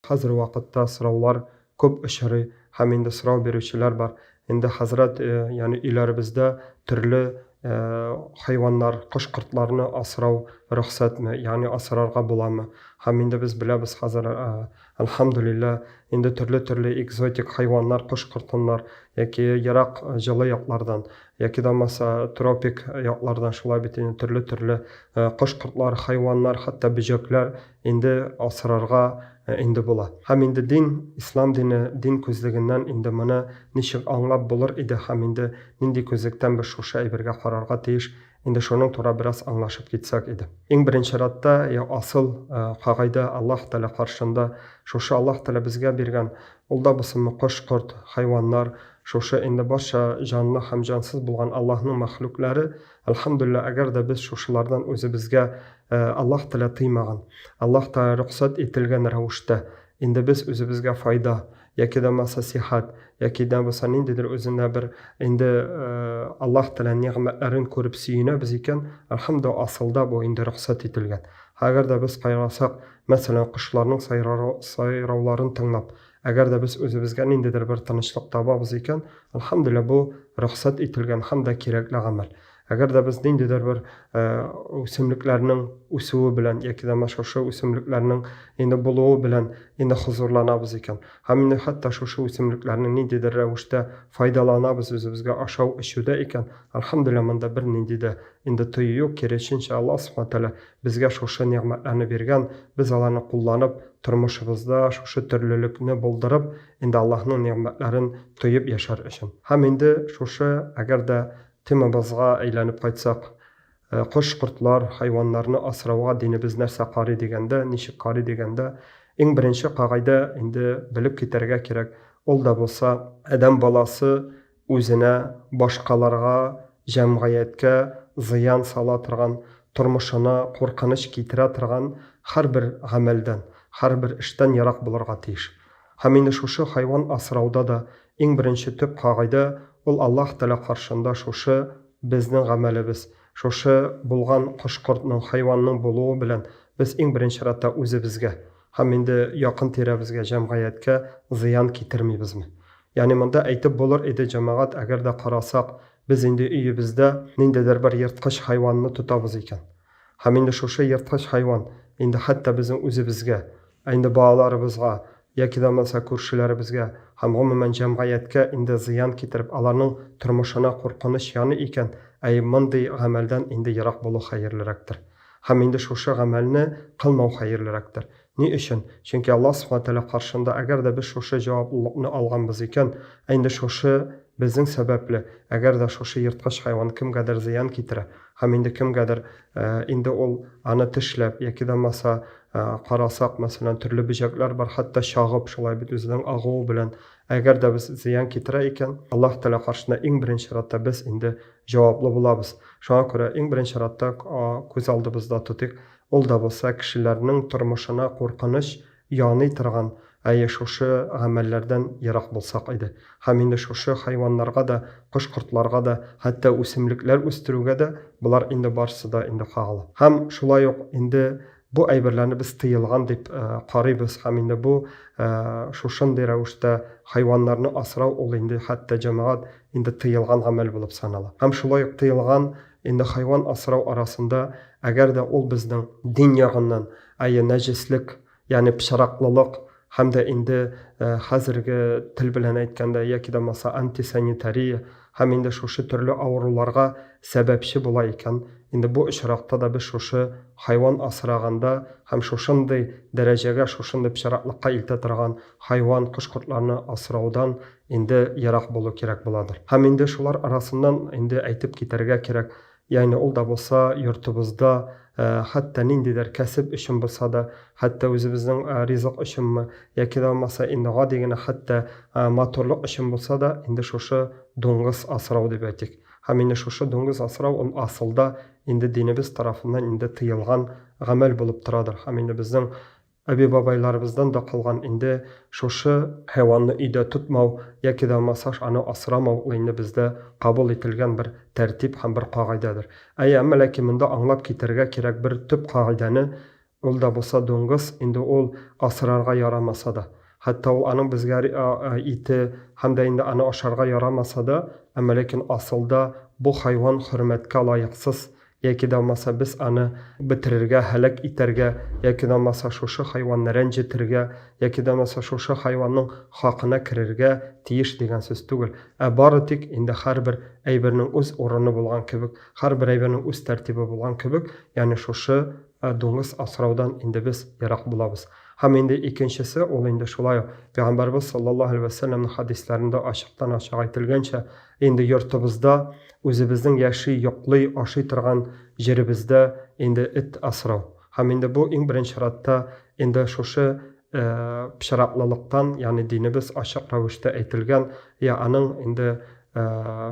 Хәзер вакытта сораулар күп очрый һәм инде сорау бирүчеләр бар. Инде хәзрәт, ягъни өйләребездә төрле хайваннар, кош-кортларны асрау рөхсәтме, ягъни асрарга буламы? Һәм инде без беләбез хәзер, әлхәмдүлиллә, инде төрле-төрле экзотик хайваннар, кош-кортыннар яки ерак җылы яклардан, яки дә булмаса тропик яклардан шулай бит инде төрле-төрле кош-кортлар, хайваннар, хәтта бөҗәкләр Инде асрарга инде була. Һәм инде дин, ислам дине, дин күзлегеннән инде моны ничек аңлап булыр иде һәм инде нинди күзлектән без шушы әйбергә карарга тиеш, инде шуның тура бераз аңлашып китсәк иде. Иң беренче радта я асыл кагайдә Аллаһ Тәгалә каршында, шушы Аллаһ Тәгалә безгә биргән, ул да булсынмы кош-корт, хайваннар, шушы инде барча җанлы һәм җансыз булган Аллаһның мәхлукләре, Әлхәмдүлилләһ, әгәр дә без шушылардан үзебезгә Аллаһ Тәгалә тыймаган, Аллаһ Тәгалә рөхсәт ителгән рәвештә, инде без үзебезгә файда, яки дә булмаса сихәт, яки дә булса ниндидер үзенә бер инде Аллаһ Тәгалә нигъмәтләрен күреп сөенәбез икән, әлхәмдүлилләһ, асылда бу инде рөхсәт ителгән. Әгәр дә без кайгырсак, мәсәлән, кошларның сайрауларын тыңлап, Әгәр дә без үзебезгә ниндидер бер тынычлык табабыз икән, алхамдулилла, бу рөхсәт ителгән һәм дә кирәкле гамәл. Әгәр дә без ниндидер бер үсемлекләрнең үсүе белән яки дә шушы үсемлекләрнең инде булуы белән инде хозурланабыз икән һәм инде хәтта шушы үсемлекләрне ниндидер рәвештә файдаланабыз үзебезгә ашау эчүдә икән алхамдулилла монда бернинди дә инде тыю юк киресенчә алла субхана тәгалә Безгә шушы нигъмәтләрне биргән, без аларны кулланып, тормышыбызда шушы төрлелекне булдырып, инде Аллаһның нигъмәтләрен тоеп яшәр өчен. Һәм инде шушы, әгәр дә темабызга әйләнеп кайтсак, кош-кортлар, хайваннарны асрауга динебез нәрсә карый дигәндә, ничек карый дигәндә, иң беренче кагыйдә, инде белеп китәргә кирәк, ул да булса, адәм баласы, Үзенә, башкаларга, җәмгыятькә зыян сала торган, тормышына куркыныч китерә торган һәрбер гамәлдән, һәрбер эштән ерак булырга тиеш. Һәм инде шушы хайван асрауда да иң беренче төп кагыйдә ул Аллаһ Тәгалә каршында шушы безнең гамәлебез, шушы булган кош-кортның, хайванның булуы белән без иң беренче рәттә үзебезгә һәм инде якын-тирәбезгә, җәмгыятькә зыян китермибезме? Ягъни монда әйтеп булыр иде, җәмәгать, әгәр дә карасак, без инде өебездә ниндидер бер ерткыч хайванны тотабыз икән. Һәм инде шушы ерткыч хайван инде хәтта безнең үзебезгә, ә инде балаларыбызга, яки дә булмаса күршеләребезгә һәм гомумән җәмгаяткә инде зыян китереп, аларның тормышына куркыныч яный икән, әй, мондый гамәлдән инде ерак булу хәерлерәктер. Һәм инде шушы гамәлне кылмау хәерлерәктер. Ни өчен? Чөнки Аллаһ Субхана Тәгалә каршында, әгәр дә без шушы җавап лыкны алганбыз икән, ә инде шушы безнең сәбәпле, әгәр дә шушы ерткыч хайван кемгәдер зыян китерә, һәм инде кемгәдер, инде ул аны тешләп, яки да булмаса, карасак, мәсәлән, төрле бөҗәкләр бар, хәтта чагып, шулай бит үзенең агуы белән, әгәр дә без зыян китерә икән, Аллаһ Тәгалә каршында иң беренче чиратта без инде җаваплы булабыз. Шуңа күрә иң беренче чиратта күз алдыбызда тотыйк, Ул да булса кешеләрнең тормышына куркыныч яный торган, әйе, шушы гамәлләрдән ерак булсак иде. Һәм инде шушы хайваннарга да, кош-кортларга да, хәтта үсемлекләр үстерүгә дә болар инде барсы да инде кагыла. Һәм шулай ук инде бу әйберләрне без тыелган дип карыйбыз һәм инде бу шушындый рәвештә хайваннарны асрау ул инде хәтта җәмәгать инде тыелган гамәл булып санала. Һәм шулай ук тыелган Инде хайван асрау арасында, әгәр дә ул безнең дин ягыннан, әйе, нәҗеслек, ягъни пычраклылык һәм дә инде хәзерге тел белән әйткәндә, яки дә булмаса антисанитария һәм инде шушы төрле авыруларга сәбәпче була икән, инде бу очракта да без шушы хайван асраганда һәм шушындый дәрәҗәгә, шушындый пычраклыкка илтә торган хайван, кош-кортларны асраудан Инде ерак булу кирәк буладыр. Һәм инде шулар арасыннан инде әйтеп китәргә кирәк, ягъни ул да булса йортыбызда, хәтта ниндидер кәсеп өчен булса да, хәтта үзебезнең ризык өченме, яки дә булмаса инде гади генә хәтта матурлык өчен булса да, инде шушы дуңгыз асрау дип әйтик. Һәм инде шушы дуңгыз асрау ул асылда инде динебез тарафыннан инде тыелган гамәл булып торадыр. Һәм инде безнең Әби-бабайларыбыздан да калган инде шушы. Хайванны өйдә тотмау яки да масаж аны асрамау ул инде бездә кабул ителгән бер тәртип һәм бер кагыйдәдер. Әйе, әмма ләкин монда аңлап китерергә кирәк бер төп кагыйдәне, ул да булса дуңгыз, инде ул асрарга ярамаса да, хәтта ул аның безгә ите һәм дә инде аны ашарга ярамаса да, әмма ләкин асылда бу хайван хөрмәткә лаексыз Яки да алмаса без аны бетерергә, һәлак итәргә, яки да алмаса шушы хайванны рәнҗетергә, яки да алмаса шушы хайванның хакына керергә тиеш дигән сүз түгел, ә бары тик инде һәрбер әйбернең үз урыны булган кебек, һәрбер әйбернең үз тәртибе булган кебек, ягъни шушы дуңгыз асраудан инде без ерак булабыз. Һәм инде икенчесе, ул инде шулай ук Пәйгамбәрбез саллаллаһу алейһи вә сәлләмнең хәдисләрендә ачыктан-ачык әйтелгәнчә, Инде йортыбызда, үзебезнең яши, йоклый, ашый торган җиребездә инде эт асрау һәм инде бу иң беренче чиратта инде шушы пычраклылыктан, ягъни динебез ачык рәвештә әйтелгән, я аның инде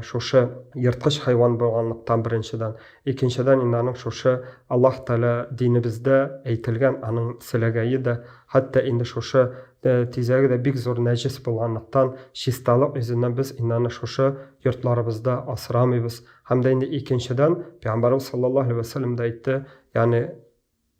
шушы ерткыч хайван булганлыктан беренчедән, икенчедән инде аның шушы Аллаһ Тәгалә динебездә әйтелгән аның селәгәе дә Хәтта инде шушы тизәге дә бик зур нәҗес булганлыктан, чисталык йөзеннән без инде аны шушы йортларыбызда асрамыйбыз. Һәм дә инде икенчедән, Пәйгамбәребез саллаллаһу алейһи вә сәлләм дә әйтте, ягъни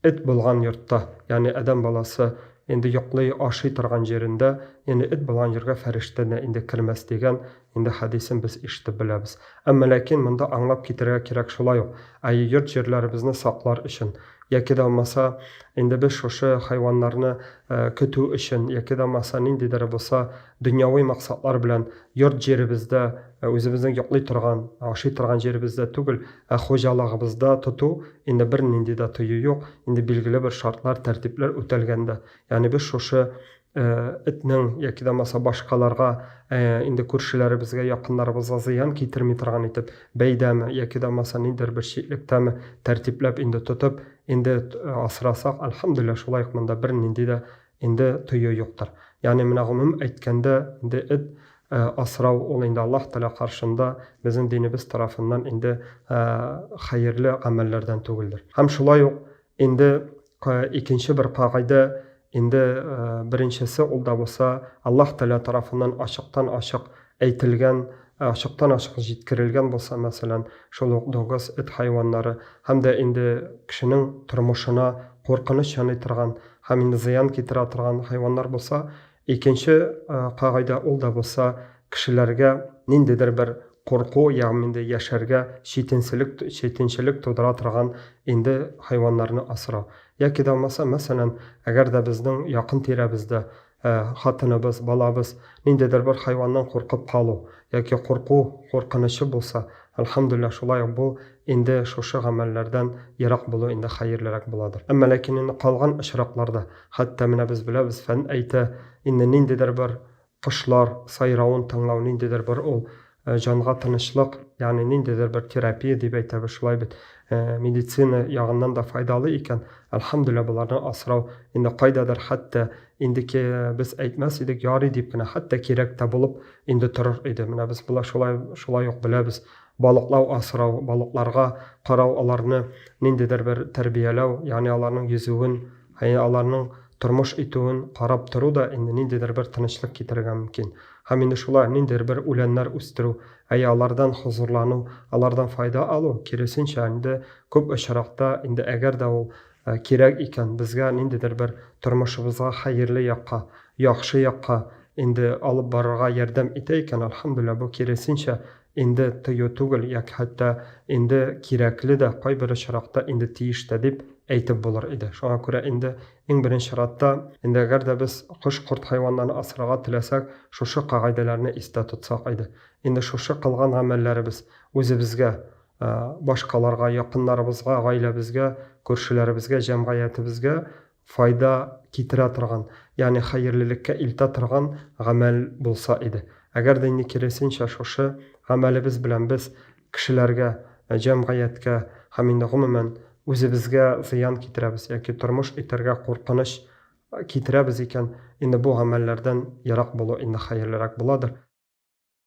эт булган йортта, ягъни адәм баласы инде йоклый, ашый торган җирендә, ягъни эт булган җиргә фәрештә дә инде кермәс дигән. Инде хәдисен без ишетеп беләбез. Әмма ләкин монда аңлап китерергә кирәк шулай ук, ә йорт-җирләребезне саклар өчен, яки дә булмаса, инде без шушы хайваннарны көтү өчен, яки дә булмаса, ниндидер булса дөньяви максатлар белән йорт-җиребездә, үзебезнең йоклый торган, ашый торган җиребездә түгел, ә хуҗалыгыбызда тоту, инде бернинди дә тыю юк, инде билгеле бер шартлар, тәртипләр үтәлгәндә. Ягъни без шушы Э, этнең яки да булмаса башкаларга э, инде күршеләребезгә якыннарыбызга зыян китерми торган итеп бәйдәме яки да булмаса ниндидер бер читлектәме тәртипләп инде тотып инде э, асырасак альхамдулилля шулай ук монда бернинди дә инде тою юктыр ягъни менә гомум әйткәндә инде эт асрау ул инде аллаһ тәала каршында безнең динебез тарафыннан инде хәерле гамәлләрдән түгелдер һәм шулай ук Инде икенче бер кагыйдә, инде беренчесе ул да булса Аллаһ Тәгалә тарафыннан ачыктан-ачык әйтелгән, ачыктан-ачык җиткерелгән булса, мәсәлән, шул ук дуңгыз, эт хайваннары һәм дә инде кешенең тормышына куркыныч яный торган һәм инде зыян китерә торган хайваннар булса, Икенче кагыйдә ул да булса, кешеләргә ниндидер бер курку, ягъм инде яшәргә читенселек, читенчелек тудыра торган инде хайваннарны асрау. Яки дә булмаса, мәсәлән, әгәр дә безнең якын тирәбездә хатыныбыз, балабыз ниндидер бер хайваннан куркып калу яки курку куркынычы булса, әлхәмдүлилләһ, шулай ук бу инде шушы гамәлләрдән ерак булу инде хәерлерәк буладыр. Әмма ләкин инде калган очракларда, Хәтта менә без беләбез, фән әйтә, инде ниндидер бер кошлар сайравын тыңлау, ниндидер бер ул җанга тынычлык, ягъни ниндидер бер терапия дип әйтәбез шулай бит. Медицина ягыннан да файдалы икән, әлхәмдүлилла боларны асрау, инде кайдадыр хәтта инде ки без әйтмәс идек, ярый дип кенә, хәтта кирәк тә булып инде торыр иде. Менә без болар шулай шулай ук беләбез. Балыклау асрау, балыкларга карау, аларны ниндидер бер тәрбияләү, ягъни аларның йөзүен, Әйе, аларның тормыш итүен карап тору да инде ниндидер бер тынычлык китерергә мөмкин. Һәм инде шулай ниндидер бер үләннәр үстерү, әйе, алардан хозурлану, алардан файда алу, киресенчә, инде күп очракта, инде әгәр дә ул кирәк икән, безгә ниндидер бер тормышыбызга хәерле якка, яхшы якка инде алып барырга ярдәм итә икән, әлхәмдүлилләһ, бу киресенчә Инде тыю түгел, яки хәтта инде кирәкле дә, кайбер очракта инде тиеш тә дип әйтеп булыр иде. Шуңа күрә инде иң беренче чиратта, инде әгәр дә без кош-корт хайваннарны асрарга теләсәк, шушы кагыйдәләрне истә тотсак иде. Инде шушы кылган гамәлләребез үзебезгә, башкаларга, якыннарыбызга, гаиләбезгә, күршеләребезгә, җәмгыятебезгә файда китерә торган, ягъни хәерлелеккә илтә торган гамәл булса иде. Әгәр дә инде киресенчә шушы гамәлебез белән без кешеләргә, җәмгыятькә һәм инде гомумән үзебезгә зыян китерәбез яки тормыш итәргә куркыныч китерәбез икән, инде бу гамәлләрдән ерак булу инде хәерлерәк буладыр.